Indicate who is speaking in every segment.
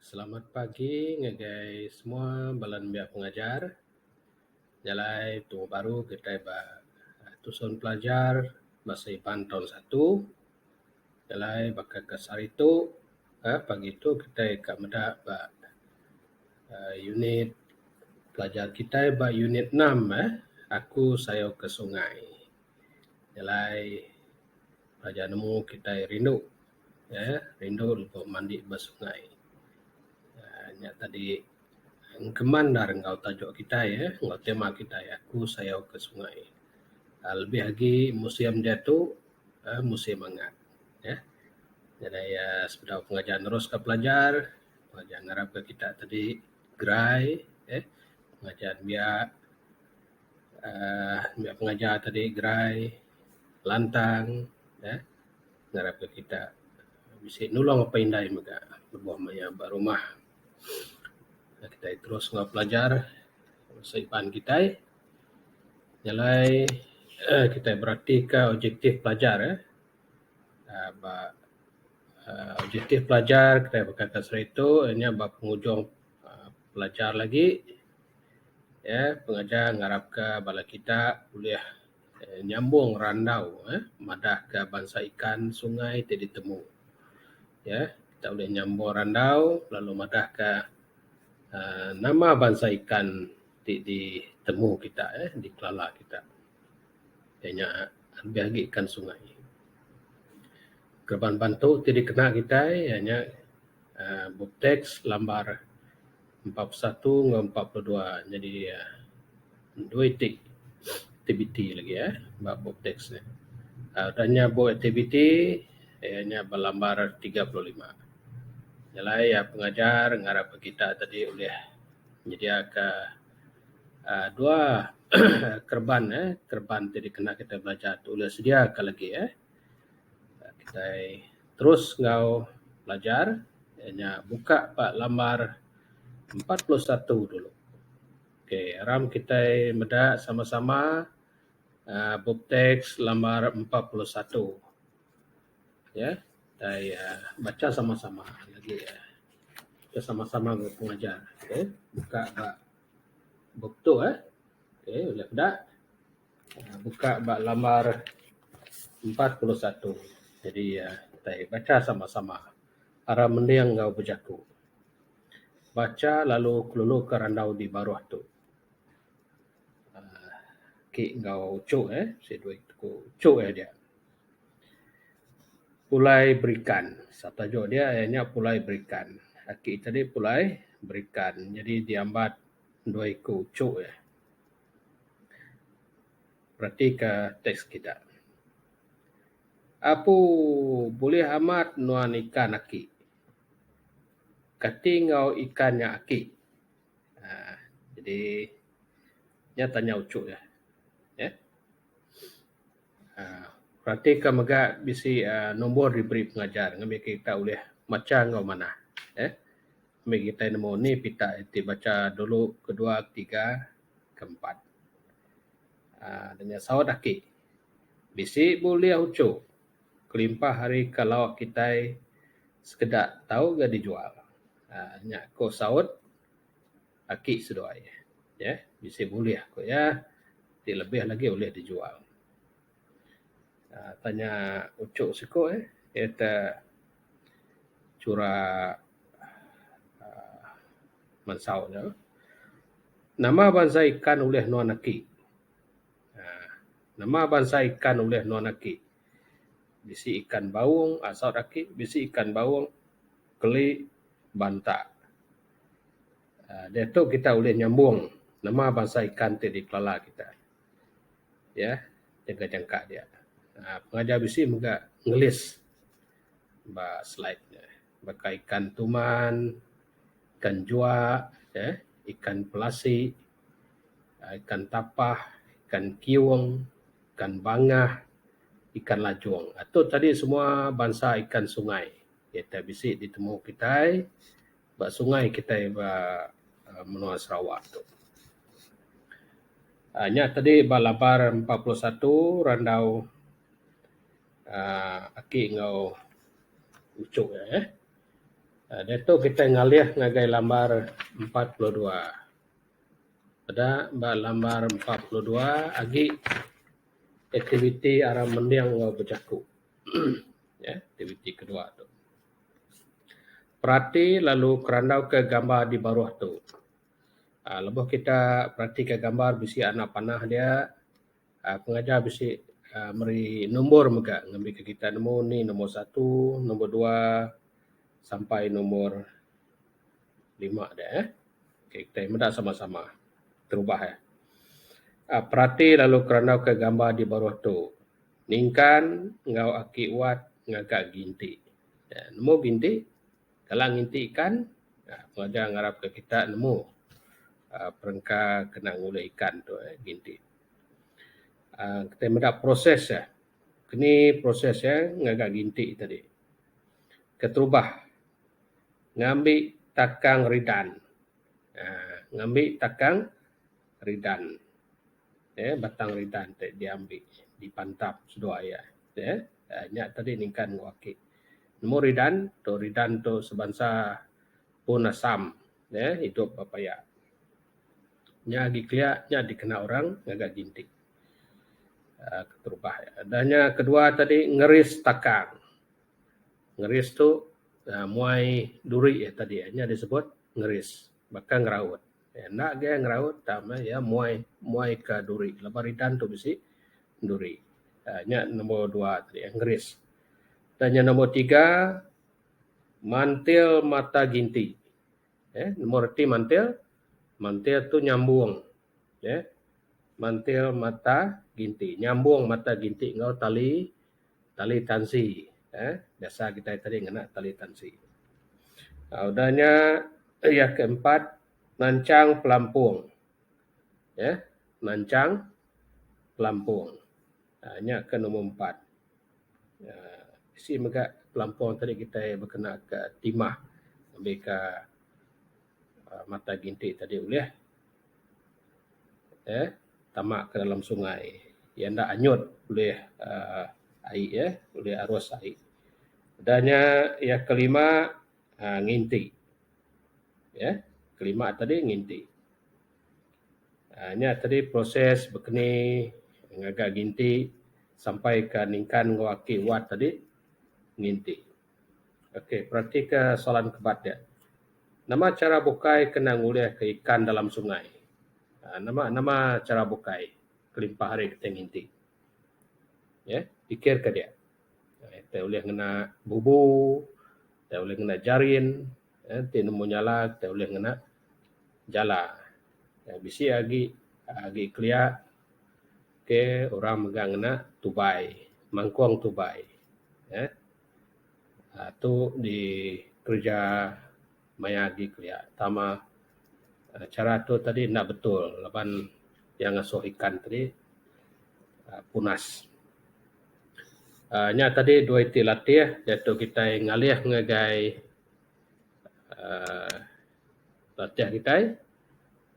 Speaker 1: Selamat pagi ngagai semua bala nembiak pengajar. Nya alai tuuh baru kitai ba tusun pelajar basa Iban taun satu. Nya alai baka ke sehari tu uhh pagi tu kitai ka meda ba uhh unit pelajar kitai ba unit enam uhh Aku Sayau ke Sungai. Nya alai pelajar nemu kitai rindu. uhh rindu ku mandi ba sungai uhh nya tadi engkeman da enggau tajuk kitai uhh enggau tema kitai aku sayau ke sungai uhh lebih agi musim diatu uhh musim angat uhh nadai uhh sepedau pengajar neruska pelajar pelajar ngarap ka kita tadi gerai uhh ngajar pia uhh pia pengajar tadi gerai lantang uhh. ngarapka kita bisi nulung apai indai mega lebuh maya ba rumah. Kitai terus enggau pelajar bangsa Iban kitai. Nya alai uhh kitai beratika objektif pelajar uhh ba uhh objektif pelajar kitai baka atas hari tu nya ba pengujung pelajar lagi uhh pengajar ngarapka bala kita ulih. nyambung randau madah ka bansa ikan sungai ti ditemu iya kita ulih nyambung randau lalu madah ka uhh nama bansa ikan ti ditemu kita uhh di Kelala kita iya nya lebih agi ikan sungai. Geban bantu ti dikena kitai iya nya. Teks lambar empat puluh satu enggau empat puluh dua nyadi dua iti aktiviti lagi uhh ba bup teks ne. Udah nya bup aktiviti iya nya ba lambar tiga puluh lima. Nya alai iya pengajar ngarap ka kita tadi ulih nyedia ka uhh dua uhh kereban uhh kereban ti dikena kita belajar ti ulih sedia ka lagi uhh. kitai terus enggau belajar iya nya buka ba lambar empat puluh satu dulu. Okay aram kitai meda sama sama aaa bup teks lambar empat puluh satu ye kitai bacha sama sama nyadi kita sama sama enggau pengajar okay buka ba bup tu eh. Okay ulih peda. buka ba lambar empat puluh satu jadi kitai bacha sama sama ara mending enggau bejaku bacha lalu kelulu ka randau di baruh tu aaa ki enggau uchu eh si dua iku tu uchu eh dia pulai berikan sap tajuk dia nya pulai berikan aki tadi pulai berikan jadi diambat. dua iku uchu eh beratika tax kita. Aku bulih amat nuan ikan aki. Kati enggau ikan nya aki uhh jadi nya tanya uchu eh neh uhh beratika mega bisi uhh nombor diberi pengajar ngaminka kita ulih macha enggau manah eh. Ambi kitai nemu ni pita iti bacha dulu kedua ketiga keempat aaa da nya saut aki bisi bulih uchu kelimpah hari ka lauk kitai sekeda tau ga dijual aaa nya ko saut aki seduai yeh bisi bulih ko iya ti lebih lagi ulih dijual aaa tanya uchu siko eh iata. chura aaa mensau ne. Nama bansa ikan ulih nuan aki aaa nama bansa ikan ulih nuan aki. Bisi ikan baung aaa saut aki bisi ikan baung keli banta aaa diatu kita ulih nyambung nama bansa ikan ti dikelala kita. iya ngagai jangka dia uhh pengajar bisi mega nulis ba slide ne baka ikan tuman, ikan jua uhh ikan pelasi, ikan tapah, ikan kiung, ikan bangah, ikan lajong ato tadi semua bansa ikan sungai iyen bisi ditemu kitai. ba sungai kitai ba menua Sarawak tu. uhh nya tadi ba labar empat puluh satu randau uhh aki enggau uchu nya eh. Diatu kitai ngalih ngagai labar empat puluh dua. Peda ba labar empat puluh dua agi aktiviti aram mending enggau bejaku uhh aktiviti ke dua tu. Perati lalu kerandauka gambar di baruh tu. Lebuh kita peratika gambar bisi anak panah dia, pengajar bisi meri numbur mega ngambika kita nemu ni numbur satu, numbur dua sampai numbur lima dia eh. Ok kita meda sama-sama terubah eh. Perati lalu kerandauka gambar di baruh tu. Ningkan enggau aki Wat ngaga ginti. Nemu ginti? Kala nginti ikan, pengajar ngarapka kita nemu perengka kena ngulih ikan tu ginti. Kitai meda proses iya. Keni proses iya ngaga ginti tadi? Keterubah ngambi takang ridan. Ngambi takang ridan. uhh batang ridan ti diambi dipantap seduwa iya uhh nya tadi ningkan ku aki nemu ridan tu ridan tu sebansa pun asam uhh idup ba paya nya agi kiya nya dikena orang ngaga jintik uhh keterubah iya. Udah nya keduwa tadi ngeris takang ngeris tu uhh muai duri iya tadi nya disebut ngeris. baka ngeraut enda agei ngeraut ta meh iya muai muai ka duri laban ka redan tu bisi duri uhh nya nombor dua ti ngeris. Tanya nombor tiga mantil mata ginti uhh meh reti mantil mantil tu nyambung uhh mantil mata ginti nyambung mata ginti enggau tali tali tansi uhh biasa kitai tadi ngena tali tansi. uhh udah nya iya ke empat nanchang pelampung uhh nanchang pelampung uhh nya ke number empat uhh bisi mega pelampung tadi kitai kena ka timah ngambika mata ginti tadi ulih. uhh tama ke dalam sungai iya enda anyut ulih uhh ai eh ulih arus ai. Udah nya iya kelima uhh nginti uhh kelima tadi nginti uhh nya tadi proses bekeni ngaga nginti sampai ka ningkan enggau aki wat tadi nginti. Okey, peratika soalan ke ba ati. Nama chara bukai kena ngulihka ikan dalam sungai? Nama nama chara bukai kelimpah ari kitai nginti. Ye, pikirka dia. Kitai ulih ngena bubu, kitai ulih ngena jarin, enti nemu nyala kitai ulih ngena jala. Bisi agi agi kelia. Ok orang mega ngena tubai mangkong tubai uhh tu di kerja maya agi kelia tama chara tu tadi enda betul laban iya ngasuh ikan tadi uhh punas. uhh nya tadi dua iti latih iya tu kitai ngalih ngagai uhh latih kitai.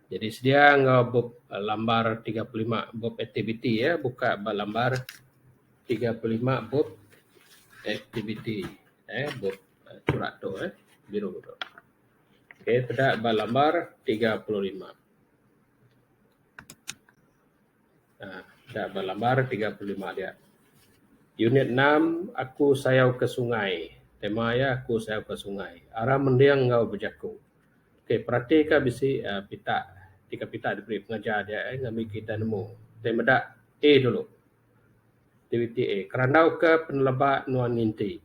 Speaker 1: Jadi sedia enggau bup lambar tiga puluh lima bup aktiviti ya. Buka ba lambar tiga puluh lima bup aktiviti eh bup surat tu eh biru tu. Okey peda ba lambar tiga puluh lima. Ah peda ba lambar tiga puluh lima dia. Unit enam aku sayau ke sungai. Tema iya aku sayau ke sungai. Aram mending enggau bejaku. Okey, peratika bisi uhh pita tiga pita da beri pengajar nya eh ngamin kita nemu. Deh meda A dulu. Aktiviti A, kerandau ka peneleba nuan nginti.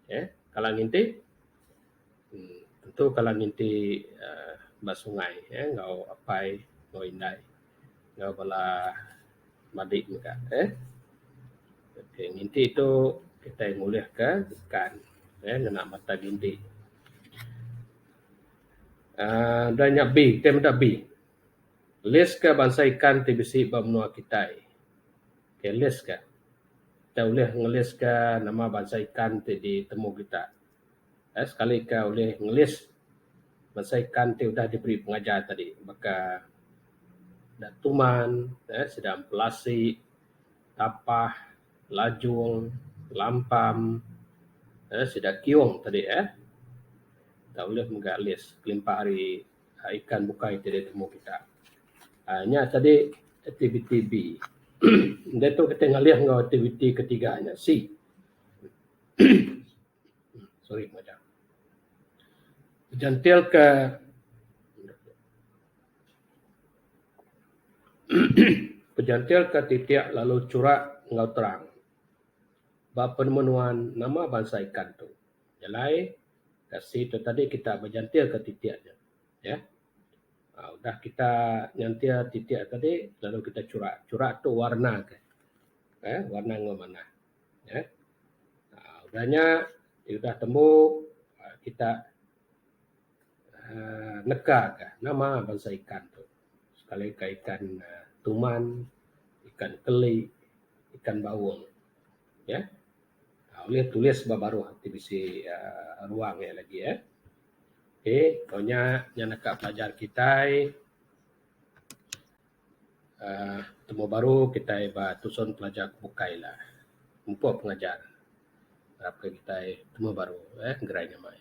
Speaker 1: Okey, kala nginti uhh tentu kala nginti uhh ba sungai enggau apai enggau indai. enggau bala madik mega eh. Okey nginti tu kitai ngulihka jekan eh ngena mata gindi aaa da nya bi kitai meda bi. List ka bansa ikan ti bisi ba menua kitai. Okey list ka. Kitai ulih nge list ka nama bansa ikan ti ditemu kita. Enda sekali ka ulih ngelis bansa ikan ti udah diberi pengajar tadi baka enda tuman uhh sida empelasi, tapah, lajung, lampam uhh sida kiyung tadi uhh enda ulih mega lis kelimpah ari ikan bukai ti ditemu kita. uhh nya tadi aktiviti B. uhh ditu kitai ngalih enggau aktiviti ketiga nya C. Nyentilka Penyentilka titik lalu churak enggau terang ba penemu nuan nama bansa ikan tu. Nyelai kasih tu tadi kita menyentilka titik ne uhh udah kita nyentil titik tadi lalu kita churak. Churak tu warna ke uhh warna enggau manah. Neh. Aa udah nya ti udah tembu aa kita aa neka ka nama bansa ikan tu. Sekali ka ikan tuman, ikan keli, ikan baung. Neh. Aa ulih tulis ba baruh ti bisi aa ruang nya lagi eh. Okey, tau nya, nya neka pelajar kitai. uhh temu baru kitai ba tusun pelajar ke bukai la. Empu pengajar. Harap ka kitai temu baru uhh gerai nya mai.